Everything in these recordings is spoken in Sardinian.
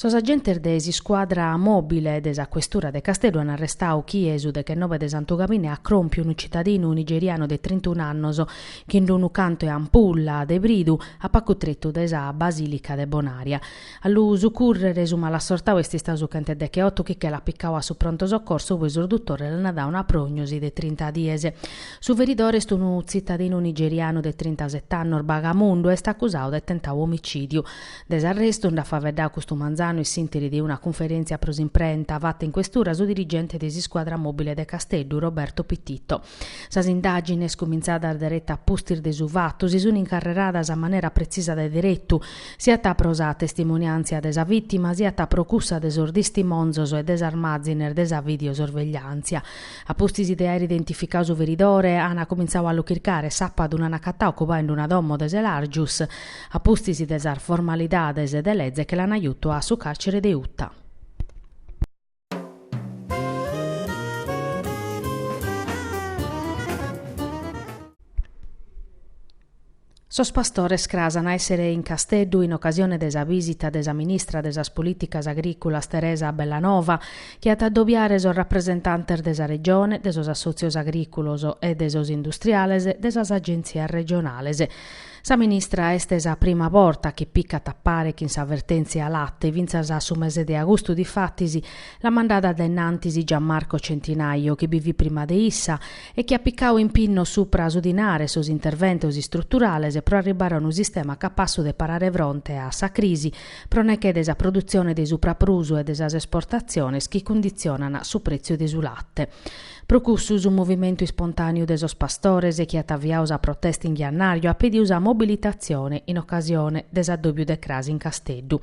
Sos agentes de s'iscuadra mòbile de sa questura de Casteddu ant arrestadu chi su dechenobe de Santu Gabine at iscorriau unu citadinu nigerianu de trintunu annos chin d'unu cantu 'e ampulla de bridu a pagu tretu de sa Basìlica de Bonària. A lu sucùrrere su malassortau est istau su chent'e deche otu chi che l'at picau a su pronto soccorso ube sos duttores l'ana dau una prognosi de trinta dies. Su feridore est unu tzitadinu nigerianu de trintasete annos, Bagamundu, est accusau de tentau omicidiu. De s'arrestu nd'at faveddau custu manzanu in s'ìnteri de una cunferentzia pro s'imprenta fata in questura su dirigente de s'iscuadra mobile de Casteddu, Roberto Pititto. Sas indàgines, cumintzadas dereta a pustis de su fatu, si sunt incarreradas a manera pretzisa de deretu, siat pro sa testimoniàntzia de sa vìtima siat pro cussa de sos tistimonzos e de sas màzines de sa videosorvegliàntzia. A pustis de àere identificadu su feridore, ant cumintzadu a lu chircare, sàbadu l'ant agatadu ocupande una domo de Selargius, a pustis de sas formalidades de leze che l'ana jutu a su càrcere de Uta. Sos pastores cras ant a èssere in Casteddu in ocasione de sa vìsita de sa ministra de sas Polìticas Agrìculas Teresa Bellanova, chi at a adobiare sos rapresentantes de sa Regione, de sos assòtzios agrìculos e de sos industriales, de sas agentzias regionales. Sa ministra est sa prima borta chi picat a pare chin sa vertèntzia latte, fintzas a su mese de agustu difatis l'at mandada a dainnantis Gian Marco Centinaio chi bi fit prima de issa e chi at picau impinnos supra su dinare sos interventos istruturales pro arribbare a unu sistema capassu de parare fronte a sa crisi pro nechè de sa produtzione de supraprusu e de sas esportatziones chi cunditzionan su prètziu de su latte. Pro cussu su movimentu ispontàneu de sos pastores chi at aviadu sa protesta in jannàriu at pedidu sa mobilitatzione in ocasione de s'addòbiu de cras in Casteddu.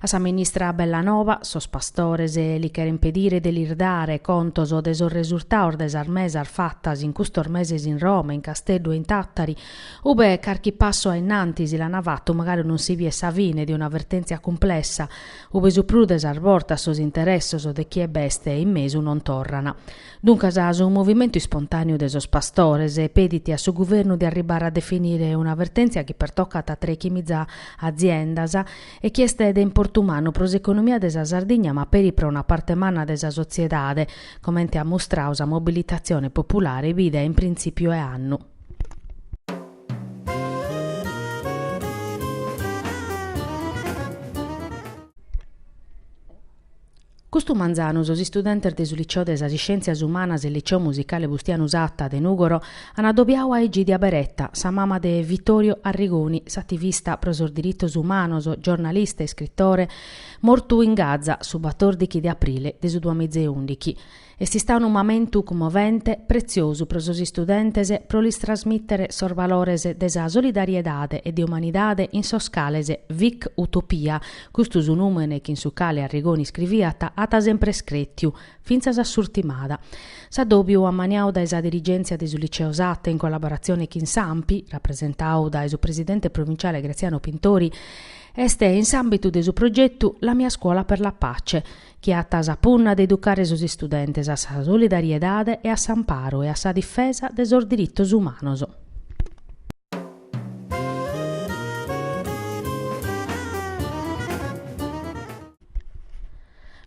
A sa ministra Bellanova sos pastores li cheren pedire de lis dare contos de sos resurtados de sas mesas fatas in custos meses in Roma, in Casteddu e in Tàtari, ube carchi passu ainnantis l'ana fatu magari non si biet sa fine de una vertèntzia cumplessa, Ube su prus de sas bortas sos interessos de chie b'est in mesu non torrana. Duncas su movimentu ispontàneu de sos pastores pedit a su guvernu de arribbare a definire una vertèntzia chi pertocat a trechimiza aziendas e chi est de importu mannu pro s'economia de sa Sardigna ma peri pro una parte manna de sa sotziedade, comente at mustradu sa mobilitatzione populare bida in printzìpiu 'e annu. Custu manzanu sos istudentes de su Liceo de sas Iscièntzias Umanas e Liceo Musicale Bustianu Satta de Nùgoro ant adobiadu a Egidia Beretta, sa mama de Vittorio Arrigoni, s'ativista pro sos diritos umanos, giornalista e iscritore, mortu in Gaza su batòrdighi de aprile de su duamiza e ùndighi. Est istadu unu mamentu cummovente, pretziosu pro sos istudentes pro lis trasmìtere sos valores de sa solidariedade e de umanidade in sos cales Vik Utopia, custu su nùmene chin su cale Arrigoni iscriviat, at semper crètiu, fintzas a s'urtimada. S'addòbiu ammaniadu dae sa dirigèntzia de su Liceo Satta in collaboratzione chin s'Anpi, rapresentadu dae su presidente provinciale Graziano Pintori, est in s'àmbitu de su progetu La mia scuola per la pace, chi at sa punna de educare sos istudentes a sa solidariedade e a s'amparu e a sa difesa de sos diritos umanos.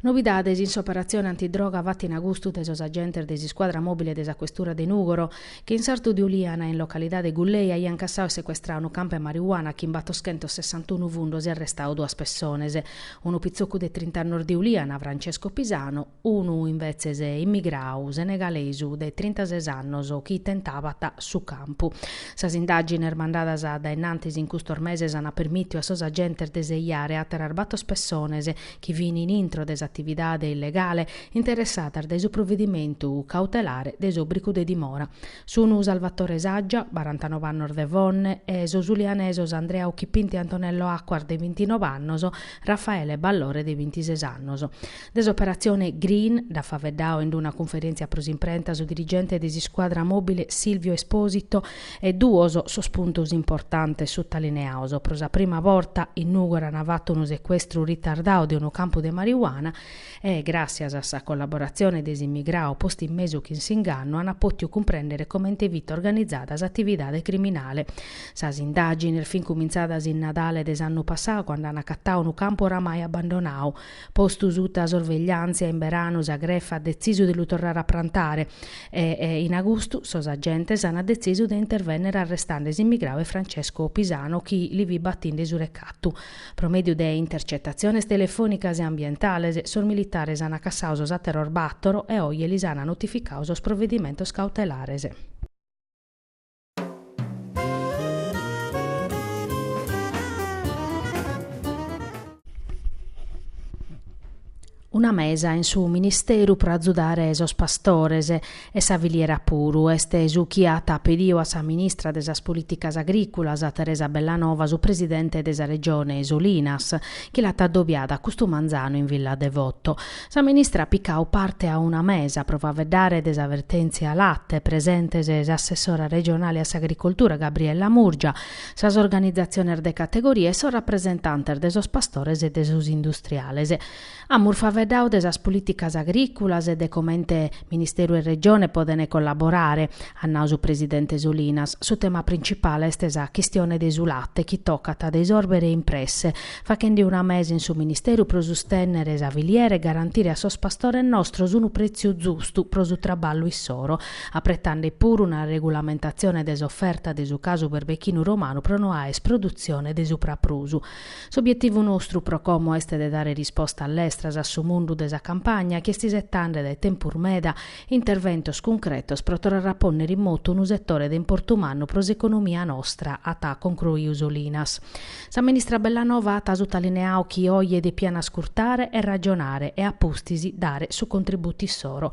Novidades in s'operatzione antidroga fata in agustu dae sos agentes de s'iscuadra mòbile de sa questura de Nùgoro, Chi in sartu di Uliana, in localidade Gullei, aian cassau e secuestrau unu campu 'e marijuana chin battoschentos sessantunu fundos e arrestau duas pessones, unu pitzocu de trint'annos de Uliana, Francesco Pisano, unu invetzes immigrau senegalesu de trintases annos chi tentabat su campu. Sas indàgines mandadas a dainnantis in custos meses ant permìtiu a sos agentes de sejare àteras bator pessones chi fin in intro de s'atividade illegale, interessadas dae su provedimentu cautelare de s'òbricu de dimora, sun Salvatore Saggia, barantanov'e annos de Fonne, e sos ulianesos Andrea Occhipinti, Antonello Acquas de bintinov'annos, Raffaele Ballore de bintises annos. De s'operatzione Green nd'at faeddadu in una cunferèntzia pro s'imprenta su dirigente de s'iscuadra mòbile Silvio Esposito, E duos sos puntos importantes sutalineados, pro sa prima borta in Nùgoro an fatu unu secuestru ritardadu de unu campu de marijuana e, gràssias a sa collaboratzione de s'immigradu postu in mesu chin s'ingannu, an pòtiu cumprèndere comente fit organizada s'atividade criminale. Sas indàgines fin cumintzadas in Nadale de s'annu passadu cando an acatadu unu campu oramai abbandonadu, Postu suta sorvegliàntzia, in beranu sa grefa at detzisu de lu torrare a prantare e in agustu sos agentes ant detzisu de intervènnere arrestande s'immigradu e Francesco Pisano chi li fit batinde su recatu. Pro mèdiu de intercetatziones telefònicas e ambientales sos militares ant cassadu sos àteros bàtoro e oje lis ant notificadu sos provedimentos cautelares. Una mesa in su ministeru pro azudare sos pastores e sa filiera puru, est su chi at pediu a sa ministra de sas Polìticas Agriculas, Teresa Bellanova, su presidente de sa Regione Solinas, chi l'at addobiadu custu manzanu in Villa Devoto. Sa ministra at picau parte a una mesa pro faveddare de sa vertèntzia de su late, presentes s'assessora regionale a s'agricoltura Gabriella Murgia, sas organizatziones de categoria e sos rapresentantes de sos pastores e de sos industriales. Amus faveddau de sas polìticas agrìculas e de comente Ministeru e Regione podent collaborare, at nau su presidente Solinas. Su tema principale est sa chistione de su late chi tocat de isòrbere in presse, fachende una mesa in su Ministeru pro sustènnere sa filiera e garantire a sos pastores nostros unu prètziu zustu pro su traballu issoro, apretande puru una regulamentatzione de s'oferta de su casu berbechinu romanu pro no aer produtzione de su praprusu. S'obietivu nostru pro como est de dare rispostas lestras a su mundu de sa campagna chi est isetande dae tempus meda interventos cuncretos pro torrare a pònnere in motu unu setore de importu mannu pro s'economia nostra, at concruiu Solinas. Sa ministra Bellanova at sutalineau chi oje depian ascurtare e ragionare e a pustis dare su contributu issoro.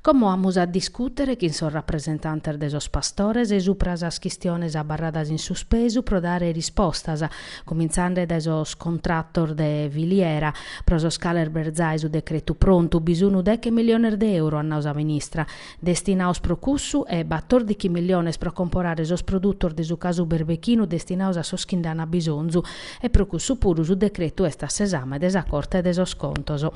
Como amus a discùtere chin sos rapresentantes de sos pastores subra sas chistiones abarradas in suspesu pro dare rispostas, cumintzande dae sos contratos de filiera, pro sos cales b'est zai su decretu prontu, bi sunu deche miliones de euro, at nau sa ministra. destinaos pro cussu e batòrdichi milliones pro comporare sos produtos de su casu berbechinu destinaos a sos chi nd'an abisonzu e pro cussu puru su decretu est a s'esame de sa Corte de sos Contos.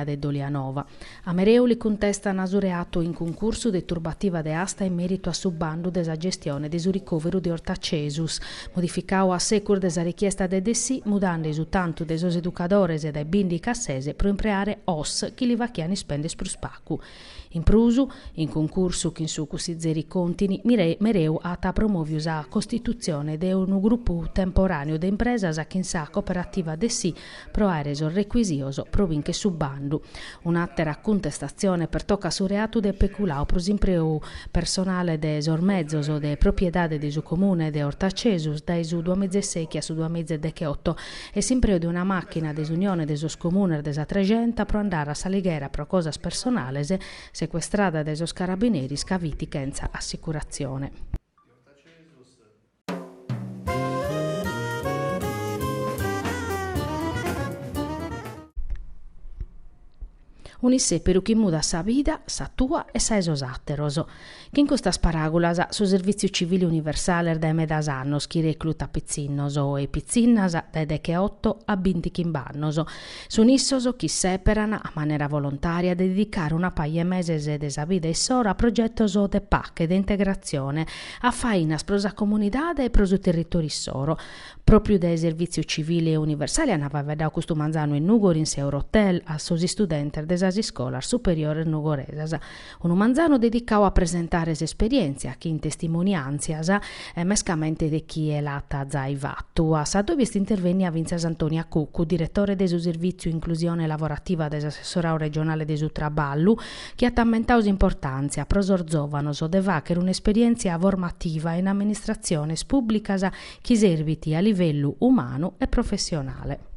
de Dolianova. A Mereu li cuntestan su reatu in cuncursu de turbativa de asta in meritu a su bandu de sa gestione de su ricòveru de Ortacesus, modificau a secus de sa richiesta de DSI mudande su tantu de sos educadores dae bìndichi a ses pro impreare OSS chi li fachian ispènder prus pacu. In prus, in cuncursu chin su cussizeri Contini, Mereu at promòviu sa costitutzione de unu grupu temporàneu de impresas chin sa cooperativa DSI pro àere sos recuisitos pro bìnchere su bandu. Un'àtera cuntestatzione pertocat su reatu de peculau pro s'impreu personale de sos mezos de propiedade de su Comune de Ortacesus dae su duamiza e sèichi a su duamiza e dechioto e s'impreu de una màchina de s'Unione de sos Comunes de sa Trexenta pro andare a S'Alighera pro cosas personales, secuestrada dae sos carabineris ca fit chentza assicuratzione. Un'issèperu chi mudat sa vida, sa tua e sa 'e sos àteros. Chin custas paràgulas, su Servìtziu Civile Universale est dae medas annos chi reclutat pitzinnos e pitzinnas dae decheoto a bintichimb'annos. Sun issos chi issèperan, a manera volontària, de dedicare una paja 'e meses de sa vida issoro a progetos de pache, de integratzione a fainas pro sa comunidade e pro su territòriu issoro. Pròpiu dae Servìtziu Civile e Universale ant faeddadu custu manzanu in Nùgori in s'Eurotel a sos istudentes de sas iscolas superiores nugoresas, unu manzanu dedicadu a presentare s'esperièntzia chin testimoniàntzias mescamente de chie l'at zai fatu. A s'adòviu est intervènnia fintzas Antonia Cuccu, diretore de su Servìtziu Inclusione Lavorativa de s'Assessorau Regionale de su Traballu, chi at ammentadu s'importàntzia pro sos zòvanos de fàghere un'esperièntzia formativa in amministratziones pùblicas chi serbit a livellu umanu e professionale.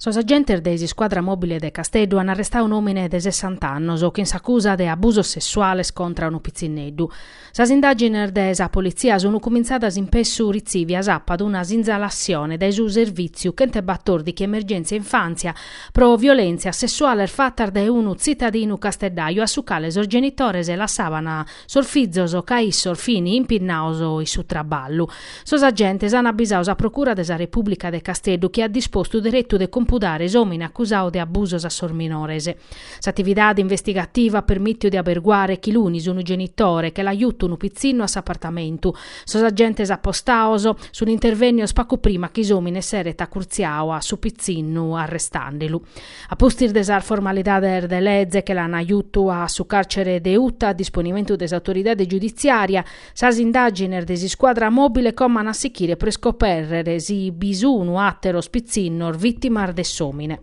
Sos agentes de s'iscuadra mòbile de Casteddu an arrestadu un'òmine de sessanta annos chin s'acusa de abusos sessuales contra unu pitzinneddu. Sas indàgines de sa politzia sun cumintzadas in pessu retziviu s'apat una sinzalassione dae su Servìtziu chentebatòrdighi Emergèntzia Infàntzia pro violèntzias sessuales fatas dae unu tzitadinu casteddaju a su cale sos genitores lassàbana Sos fizos ca issos fin impinnados in su traballu. Sos agentes an abisadu sa Procura de sa Repùblica de Casteddu chi at dispostu deretu de compudare s'òmine acusadu de abusos a sos minores. S'atividade investigativa at permìtiu de aberguare chi lunis unu genitore che l'at jutu unu pitzinnu a s'apartamentu. Sos agentes apostados sun intervènnidos pagu prima chi s'òmine s'eret acurtziadu a su pitzinnu arrestàndelu. A pustis de sas formalidades de leze che l'an jutu a su càrcere de Uta a disponimentu de s'autoridade giuditziària, sas indàgines de s'iscuadra mòbile como an a sichire pro iscopèrrere si bi sunu àteros pitzinnos vìtimas de s'òmine.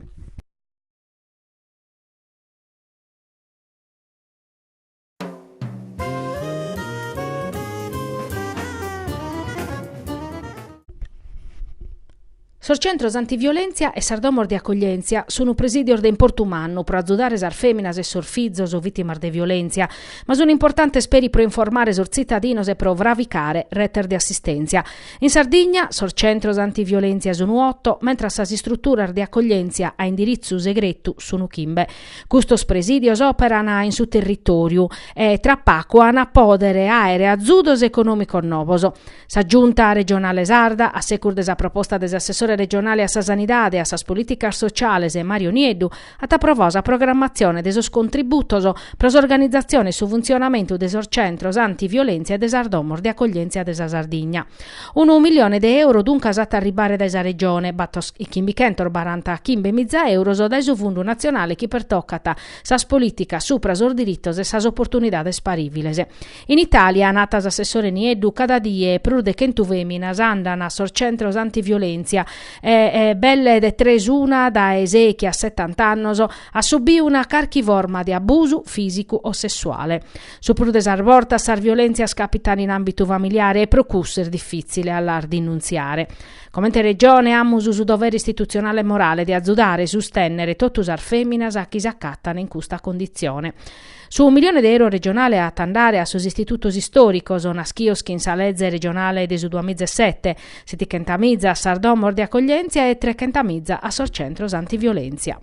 Sos centros antiviolèntzia e sas domos de acoglièntzia sun presìdios de importu mannu pro azudare sas fèminas e sos fizos vìtimas de violèntzia, ma sun importantes peri pro informare sos tzitadinos e pro fravicare retes de assistèntzia. In Sardigna, sos centros antiviolèntzia sun oto, mentres sas istruturas de acoglièntzia a indiritzu segretu sun chimbe. Custos presìdios òperan in su territòriu e tra pagu an a pòdere àere azudos econòmicos novos. Sa Giunta regionale sarda, a segus de sa proposta de s'assessore regionale a sa Sanidade e a sas polìticas sociales Mario Nieddu, at aprovadu sa programmatzione de sos contributos pro s'organizatzione e su funtzionamentu de sos centros antiviolèntzia e de sas domos de acoglièntzia de sa Sardigna. Unu milione de euro duncas at a arribare dae sa Regione, bator e chimbichentos barantachimbe miza euros dae su fundu natzionale chi pertocat sas polìticas supra sos diritos e sas oportunidades parìviles. In Itàlia, at nau s'assessore Nieddu, cada die prus de chentu fèminas andan a sos centros antiviolèntzia e belle de tres una dae sechi a setanta annos at subiu una carchi forma de abusu fìsicu o sessuale. Su prus de sas bortas sas violèntzias càpitan in àmbitu familiare e pro cussu est difìtzile a las dinuntziare. Comente Regione amus su dovere istitutzionale e morale de azudare e sustènnere totu sas fèminas chi s'acatan in custa conditzione. Su milione de euro regionale at a andare a sos istitutos istòricos naschios chin sa leze regionale de su duamiza e sete, setichentamiza a sas domos de acoglièntzia e trechentamiza a sos centros antiviolèntzia.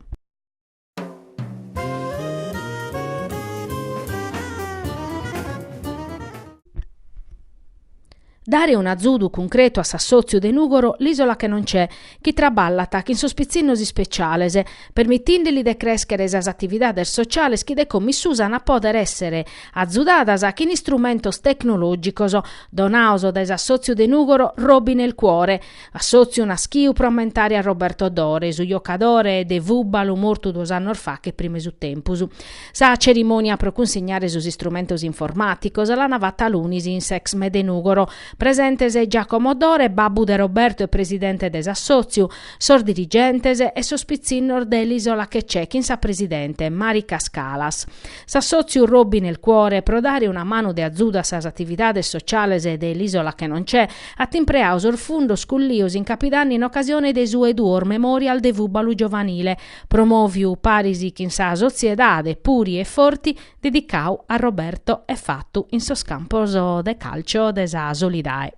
Dare un'azudu cuncretu a s'assòtziu de Nùgoro L'Isola che non c'è, chi traballat chin sos pitzinnos ispeciales, permitinde li de crèschere sas atividades sociales chi de como in susu an a pòdere èssere azudadas chin istrumentos tecnològicos donados dae s'assòtziu de Nùgoro Robi nel Cuore, Assòtziu naschiu pro ammentare a Roberto Dore, su jocadore de fùbalu mortu duos annos fache prima 'e su tempus. Sa cerimònia pro cunsignare sos istrumentos informàticos l'ana fata lunis in s'Exme de Nùgoro. Presentes Giacomo Dore, babbu de Roberto e presidente de s'assòtziu, sos dirigentes e sos pitzinnos de l'Isola che c'è chin sa presidente, Mari Cascalas. S'assòtziu Robi nel cuore pro dare una manu de azudu a sas atividades sociales de l'Isola che non c'è, At impreadu sos fundos cullios in Capidanne in ocasione de su 'e duos Memorial de fùbalu giovanile, promòviu paris chin sa Sotziedade Puri e Forti dedicau a Roberto e fatu in sos campos de càlcio de sa Solidae.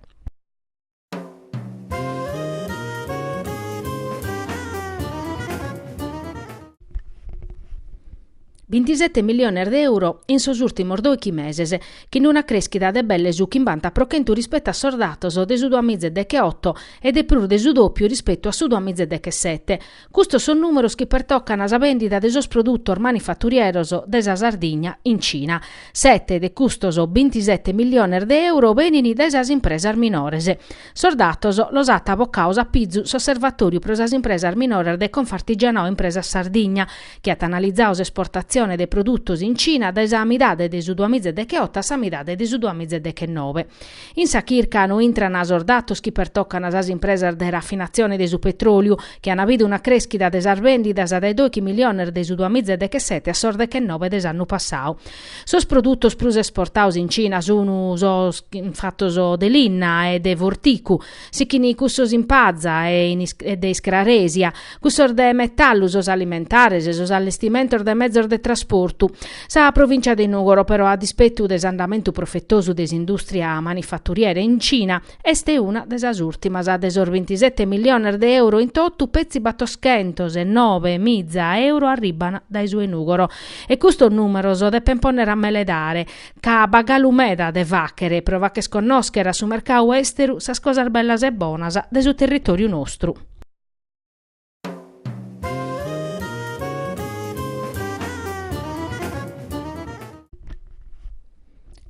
Bintisete milliones de euro in sos ùrtimos doichi meses, chin una crèschida de belle su chimbanta pro chentu rispettu a sos datos de su duamiza e decheoto e de prus de su dòpiu rispettu a su duamiza e dechesete. Custos sos nùmeros chi pertocan sa bèndida de sos produtos manifaturieros de sa Sardigna in Cina. Sete de custos bintisete milliones de euro benin dae sas impresas minores. Sos datos los at bocados a pizu s'Osservatòriu pro sas impresas minoras de Confartigianato Impresas Sardigna, chi at analizadu s'esportatzione de produtos in Cina dae sa midade de su duamìgia e deche oto a sa midade de su duamìgia e deche noe. In sa chirca no intrana sos datos chi pertocana sas impresas de rafinatzione de su petròliu, chi ana bidu una crèschida de sas bèndidas dae doighi miliones de su duamìgia e deche sete a sos deche noe de s'annu passadu. Sos produtos prus esportados in Cina sun sos fatos de linna e de forticu, sichin cussos in paza e de iscraresia, cussos de metallu, sos alimentares e sos allestimentos de mezos de trasportu. Sa provìncia de Nùgoro, però, a dispetu de s'andamentu profetosu de s'indùstria manifaturiera in Cina, Est una de sas ùrtimas de sos bintisete milliones de euro in totu, petzi battoschentos e nobe miza euro arribban dae su 'e Nùgoro. E custos nùmeros depen pònnere a meledare, ca b'at galu meda de fàghere pro fagher connòschere a su mercadu èsteru sas cosas bellas e bonas de su territòriu nostru.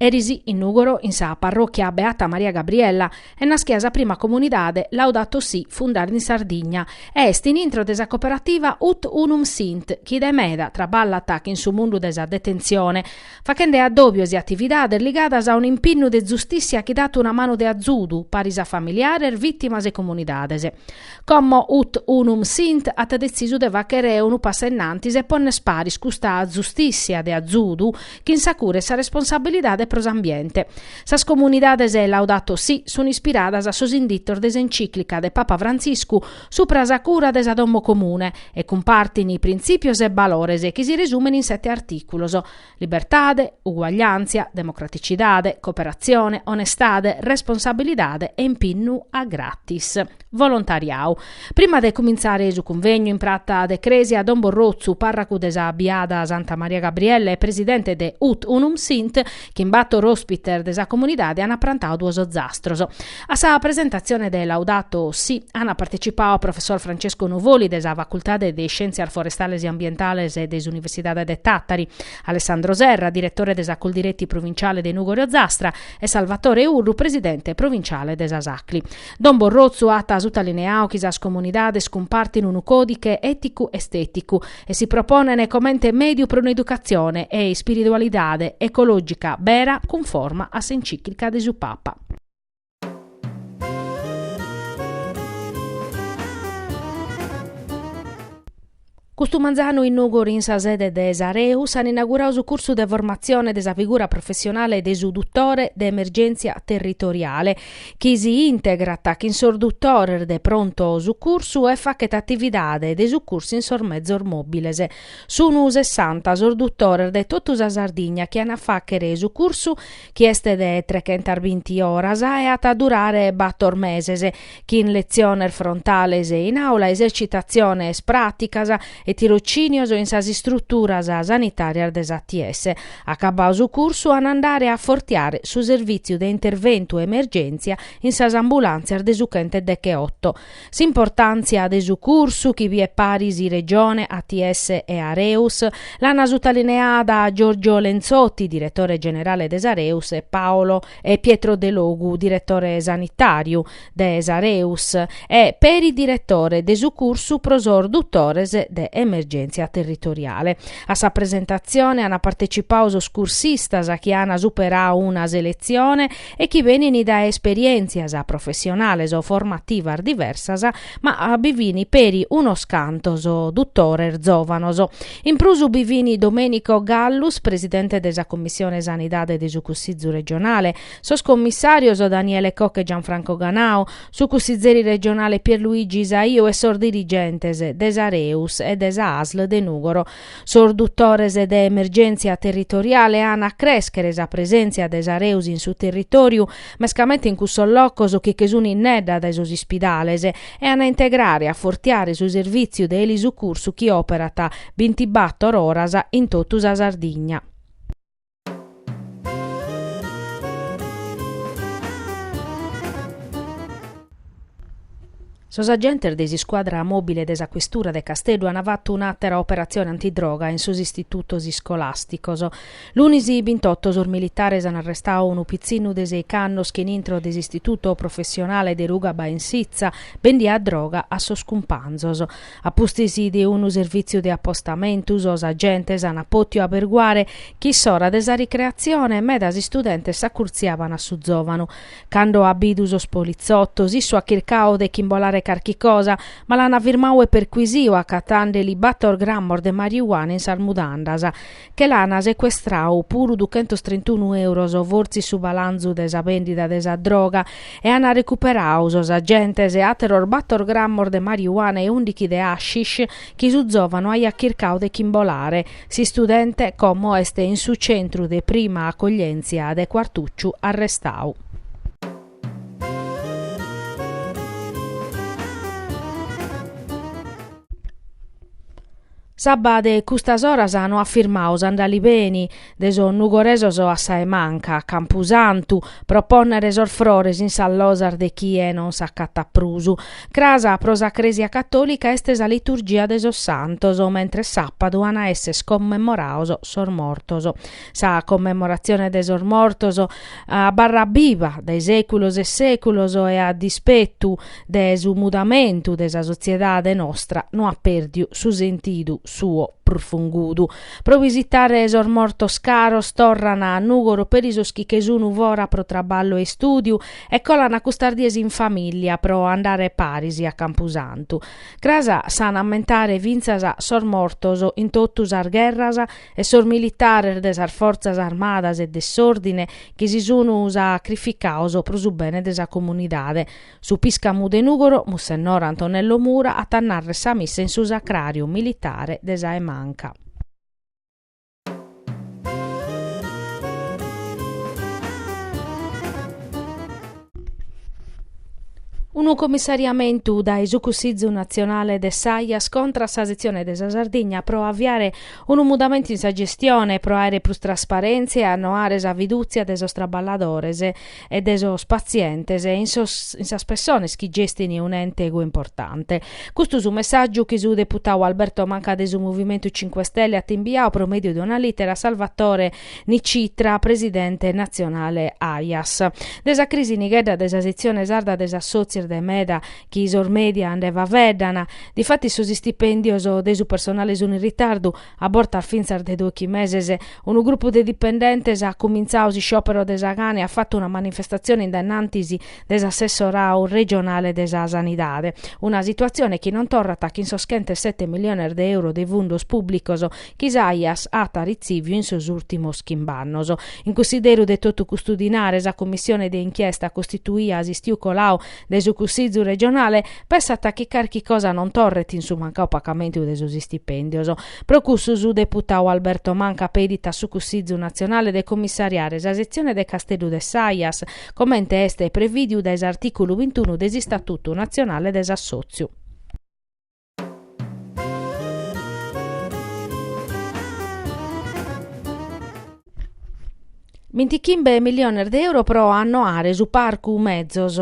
Eris in Nùgoro, in sa parròchia Beata Maria Gabriella, est naschida sa prima comunidade Laudato Si fundada in Sardigna e est in intro de sa coperativa Ut Unum Sint chi de meda traballat chin su mundu de sa detentzione, fachende addòbios e atividades ligadas a un'impinnu de zustìssia chi dat una manu de azudu, paris a familiares, vìtimas e comunidades. Como ut unum sint at detzisu de fàghere unu passu in antis e pònner paris custa zustìssia de azudu chin sa cura e sa responsabilidade pro s'ambiente. Sas comunidades Laudato Si sunt ispiradas a sos inditos de s'encìclica de Papa Frantziscu Supra sa cura de sa domo comune e cumpartin printzìpios e balores chi si resumen in sete artìculos, libertade, uguagliàntzia, democraticidade, cooperatzione, onestade, responsabilidade e impinnu a gratis. Volontariau. Prima de cumintzare su cunvegnu in prata de crèsia Don Borrotzu, pàrracu de sa biada Santa Maria Gabriella e presidente de Ut Unum Sint, chin bator ospites de sa comunidade ant prantadu duos ozastros. A sa presentatzione de Laudato Si ant partecipadu professor Francesco Nuvoli de sa Facultade de Iscièntzias Forestales e Ambientales de s'Universidade de Tàtari, Alessandro Serra, diretore de sa Coldiretti provinciale de Nùgoro-Ozastra e Salvatore Urru, presidente provinciale de sas Acli. Don Borrotzu at sutalineadu chi sas comunidades cumpartint unu còdiche èticu-estèticu e si proponene comente mediu pro un'educatzione e ispiridualidade ecològica bera cunforma a s'encìclica de su Papa. Custu manzanu in Nùgoro in sa sede de s'Areus an inauguradu su cursu de formatzione de sa figura professionale de su Dutore de Emergèntzia Territoriale chi si integrat chin sos dutores de pronto sucursu e fachet atividade de sucursu in sos mezos mòbiles. Sun sessanta sos dutores de totu sa Sardigna chi an a fàchere su cursu chi est de trechentasbinti oras e at a durare bator meses, chin letziones frontales in àula, esercitatziones pràticas e tirocinios in sas istruturas sanitarias de s'ATS. Acabau su cursu an andare a fortiare su servìtziu de interventu e emergèntzia in sas ambulàntzias de su chent'e decheoto. S'importàntzia de su cursu, chi biet paris Regione, ATS e Areus, l'an sutalineada Giorgio Lenzotti, diretore generale de s'Areus e Paolo e Pietro Delogu, diretore sanitàriu, de s'Areus e peri diretore de su cursu pro sos dutores de emergèntzia territoriale. A sa presentatzione ant partecipau sos cursistas chi ant superau una seletzione e chi benint dae esperièntzias professionales o formativas diversas, ma bi fini peri unos cantos dutores zòvanos. In prus bi fini Domenico Gallus, presidente de sa Commissione Sanidade de su Cussizu Regionale, Sos commissàrios Daniele Cocco e Gianfranco Ganau, su cussizeri regionale Pierluigi Saiu e sos dirigentes de s'Areus e de sa Asl de Nùgoro. Sos dutores de emergèntzia territoriale an a crèschere sa presèntzia de s'Areus in su territòriu, mescamente in cussos locos chi che sunt innedda dae sos ispidales, e an a integrare e a fortiare su servìtziu de elisucursu chi òperat bintibator oras in totu sa Sardigna. Sos agentes de s'iscuadra mòbile de sa questura de Casteddu ant fatu un'àtera operatzione antidroga in sos istitutos iscolàsticos. Lunis bintoto sos militares ant arrestau unu pitzinnu de sèich'annos chi in intro de s'istituto professionale de ruga Bainsizza bendiat droga a sos cumpanzos. A pustis de unu servìtziu de apostamentu, sos agentes ant pòtiu aberguare chi in s'ora de sa ricreatzione medas istudentes s'acurtziaban a su zòvanu. Cando at bidu sos politzotos, issu at chircau de ch'imbolare carchi cosa, ma l'ant firmau e perquisiu, acatende-li bator grammos de mariuana in sas mudandas. Che l'ana secuestrau puru duchentos trintunu euros fortzis su balanzu de sa bèndida de sa droga e ana recuperau sos agentes àteros bator grammos de mariuana e ùndichi de hashish chi su zòvanu aiat chircau de ch'imbolare. S'istudente como est in su centru de prima acoglièntzia de Cuartucciu arrestau. S'abba de custas oras no at firmadu s'andalibeni de sos nugoresos a sa 'e Manca, a campusantu, pro pònnere sos frores in sas losas de chie non s'acatat prus. Cras pro sa Crèsia catòlica est sa liturgia de sos santos, mentres sàpadu an a èssere commemorados sos mortos. Sa commemoratzione de sos mortos abarrat biva dae sèculos e sèculos e a dispetu de su mudamentu de sa sotziedade nostra no at pèrdiu su sentidu suo prufungudu. Pro bisitare sos mortos caros torran a Nùgoro peri sos chi che sun fora pro traballu e istùdiu e colan custas dies in famìllia pro andare paris a Campusantu. Cras s'an a ammentare fintzas sos mortos in totu sas gherras e sos militares de sas fortzas armadas e de s'òrdine chi si sun sacrificados pro su bene de sa comunidade. Su pìscamu de Nùgoro, Mussennore Antonello Mura at a nàrrer sa missa in su sacràriu militare de sa 'e Manca. Unu comissariamentu dae su Cussizu Natzionale de s'Aias contra a sa setzione de sa Sardigna pro aviare Unu mudamentu in sa gestione pro àere prus trasparèntzia e annoare sa fidùtzia de sos traballadores e de sos patzientes in sos in sas pessones chi gestint un'ente goi importante. Custu su messàgiu chi su deputadu Alberto Manca de su Movimentu Cinque Stelle at imbiadu pro mèdiu de una lìtera a Salvatore Nicitra, presidente natzionale Aias. De sa crisi nighedda de sa setzione sarda de s'assòtziu est de meda chi sos media nde faveddan, difatis sos istipèndios de su personale sun in ritardu, a bortas fintzas de dochi meses. Unu grupu de dipendentes at cumintzadu s'isciòperu de sa gana e at fatu una manifestatzione in dennantis de s'assessoradu regionale de sa Sanidade. Una situatzione chi non torrat chin sos chent'e sete milliones de euro de fundos pùblicos chi s'Aias at arritzìviu in sos ùrtimos chimb'annos. In cunsideru de totu custu dinare, sa cumissione de inchiesta costituida s'istiu coladu de su Cussizu regionale, pessat chi carchi cosa non torret in su mancadu pacamentu de sos istipèndios. Pro cussu su deputadu Alberto Manca pedit a su Cussizu natzionale de comissariare sa setzione de Casteddu de s'Aias, comente est prevìdiu dae s'artìculu bintunu de s'Istatutu natzionale de s'assòtziu. Bintichimbe milliones de euro pro annoare su parcu metzos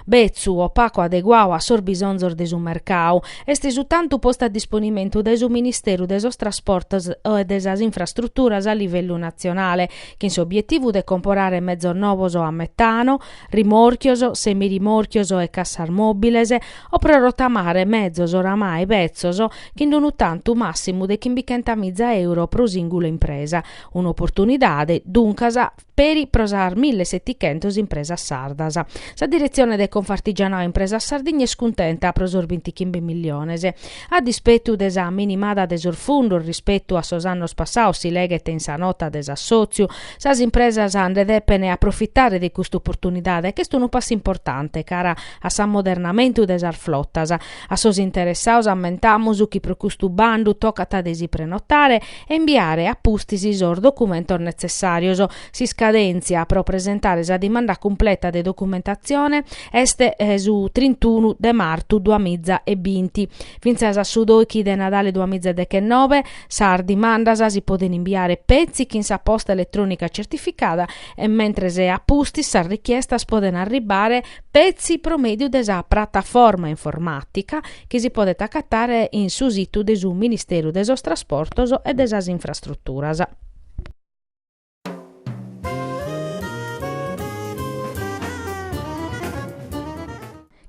betzu, o pacu adeguadu a sos bisonzos de su mercadu. Est su tantu postu a disponimentu dae su Ministeru de sos Trasportos e de sas Infrastruturas a livellu natzionale, chin s'obietivu de comporare metzos novos a metano, rimòrchios, semirimòrchios e cassas mòbiles, o pro rotamare mezos oramai petzos chin unu tantu màssimu de chimbichentamìza euro pro sìngula impresa, un'oportunidade, duncas, peri pro sas mille e setichentas impresas sardas. Sa Diretzione de Confartigianau Impresas Sardigna est cuntenta pro sos bintichimbe milliones. A dispetu de sa minimada de sos fundos rispetu a sos annos passados, si leghet in sa nota de s'assòtziu, sas impresas nde depent aprofitare de custa oportunidade, ch'est unu passu importante cara a s'ammodernamentu de sas flotas. A sos interessados ammentamus chi pro custu bandu tocat de si prenotare e imbiare a pustis sos documentos netzessàrios. S'iscadèntzia pro presentare sa dimanda cumpleta de documentatzione Est su trintunu de martu duamiza e binti. Fintzas a su dòichi de Nadale duamiza dechenobe, sas dimandas si podent imbiare petzi chin sa posta eletrònica certificada e mentres a pustis sas richiestas podent arribare petzi pro mèdiu de sa prataforma informàtica chi si podet acatare in su situ de su Ministeru de sos Trasportos e de sas Infrastruturas.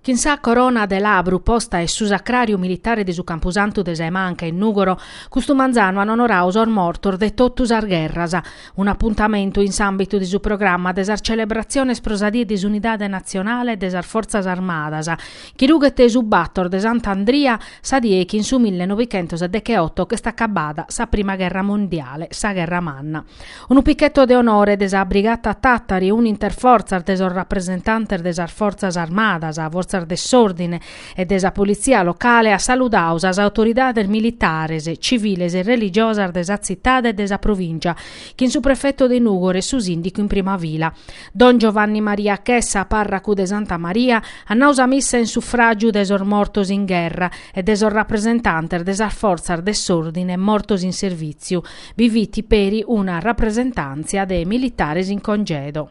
Chin sa corona de labru posta in su sacràriu militare de su campusantu de sa 'e Manca in Nùgoro, custu manzanu an onorau sos mortos de totu sas gherras. Un'apuntamentu in s'àmbitu de su programma de sas celebratziones pro sa Die de s'Unidade Natzionale e de sas Fortzas Armadas, Chi rughet su bator de Sant'Andria sa die chi in su mille novichentos e decheoto ch'est acabada sa prima gherra mondiale, sa gherra manna. Unu picheto de onore de sa Brigata Tàtari, unu interfortzas de sos rapresentantes de sas Fortzas Armadas, Fortzas de s'Òrdine e de sa Politzia locale at saludadu sas autoridades militares, civiles e religiosas de sa tzitade e de sa provìngia, chin su prefetu de Nùgoro e su sìndicu in prima fila. Don Giovanni Maria Chessa, pàrracu de Santa Maria, at nau sa missa in sufràgiu de sos mortos in gherra e de sos rapresentantes de sas fortzas de s'òrdine mortos in servìtziu. Bi fit peri una rapresentàntzia de militares in congedo.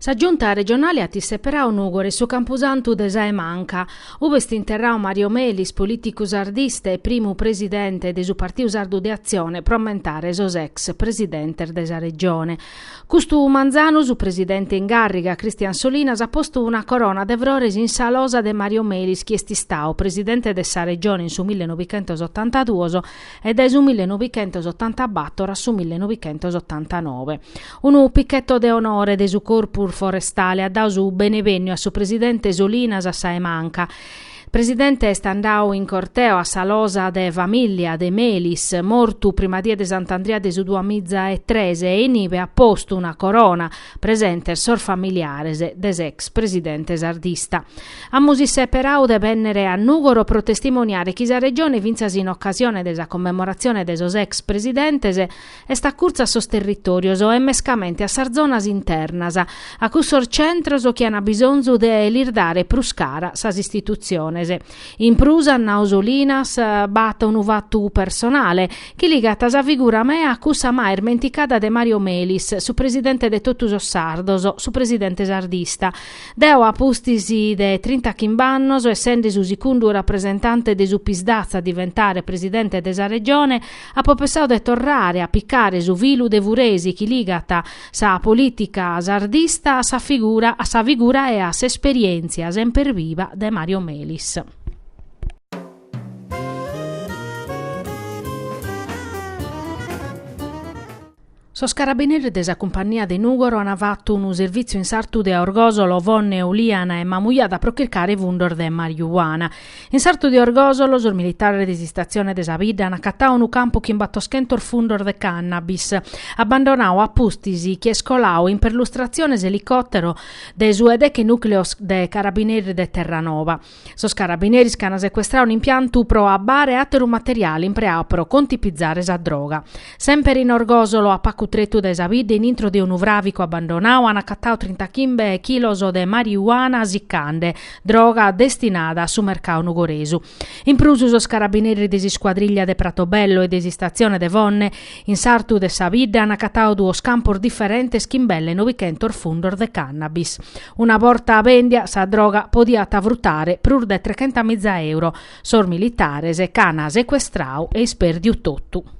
Sa Giunta regionale at isseperau Nùgoro e su campusantu de sa 'e Manca, ube est interrau Mario Melis, polìticu sardista e primu presidente de su Partiu Sardu de Atzione pro ammentare sos ex presidentes de sa Regione. Custu manzanu su presidente in càrriga, Christian Solinas, at postu una corona de frores in sa losa de Mario Melis chi est istau presidente de sa Regione in su mille novichentos otantaduos e dae su mille novichentos otantabator a su mille novichentos otantanobe. Unu picchetto de onore de su Corpus Forestale at dadu su benevènniu a su presidente Solinas a Sa 'e Manca. Presidente est andadu in corteo a sa losa de famìllia de Melis, mortu prima die de Sant'Andria de su duamiza e tres e inibe at postu una corona, presentes sos familiares de s'ex presidente sardista. Amus isseperadu de bènnere a Nùgoro pro testimoniare chi sa Regione fintzas in ocasione de sa commemoratzione de sos ex presidentes, est acurtzu a sos territòrios e mescamente a sas zonas internas, a cussos centros chi an bisonzu de lis dare prus cara sas istitutziones. In prus, nau Solinas, b'at unu fatu personale, chi ligat sa figura mea a cussa mai ismenticada de Mario Melis, su presidente de totu sos sardos, su presidente sardista. Deo a pustis de trintachimb'annos, essende su sicundu rapresentante de su PSd'Az a diventare presidente de sa Regione, Apo pensadu de torrare a picare su filu de furesi chi ligat sa polìtica sardista a sa figura a sa figura e a s'esperièntzia semper viva de Mario Melis. Sos carabineris de sa Cumpannia de Nùgoro ant fatu unu servìtziu in s'artu de Orgòsolo, Fonne, Olìana e Mamujada pro chircare fundos de mariuana. In s'artu de Orgòsolo sos militares de s'istatzione de sa bidda ant acatadu unu campu chin battoschentos fundos de cannabis, abbandonadu a pustis chi est coladu in perlustratzione s'elicòtero de su 'e deche nùcleos de carabineris de Terranova. Sos carabineris ch'an secuestradu un'impiantu pro abbare e àteru materiale impreadu pro contipizare sa droga. Semper in Orgòsolo, a pacu tretu dae sa bidda in intro de unu fràvicu abbandonadu an acatadu trintachimbe chilos de marijuana sicande, droga destinada a su mercadu nugoresu. In prus sos carabineris de s'iscuadrìllia de Pratobello e de s'istatzione de Fonne, in s'artu de sa bidda an acatadu duos campos diferentes chin belle nobichentos fundos de cannabis. Una borta bèndia, sa droga podiat frutare prus de trechentamìza euro. Sos militares ch'an secuestradu e ispèrdiu totu.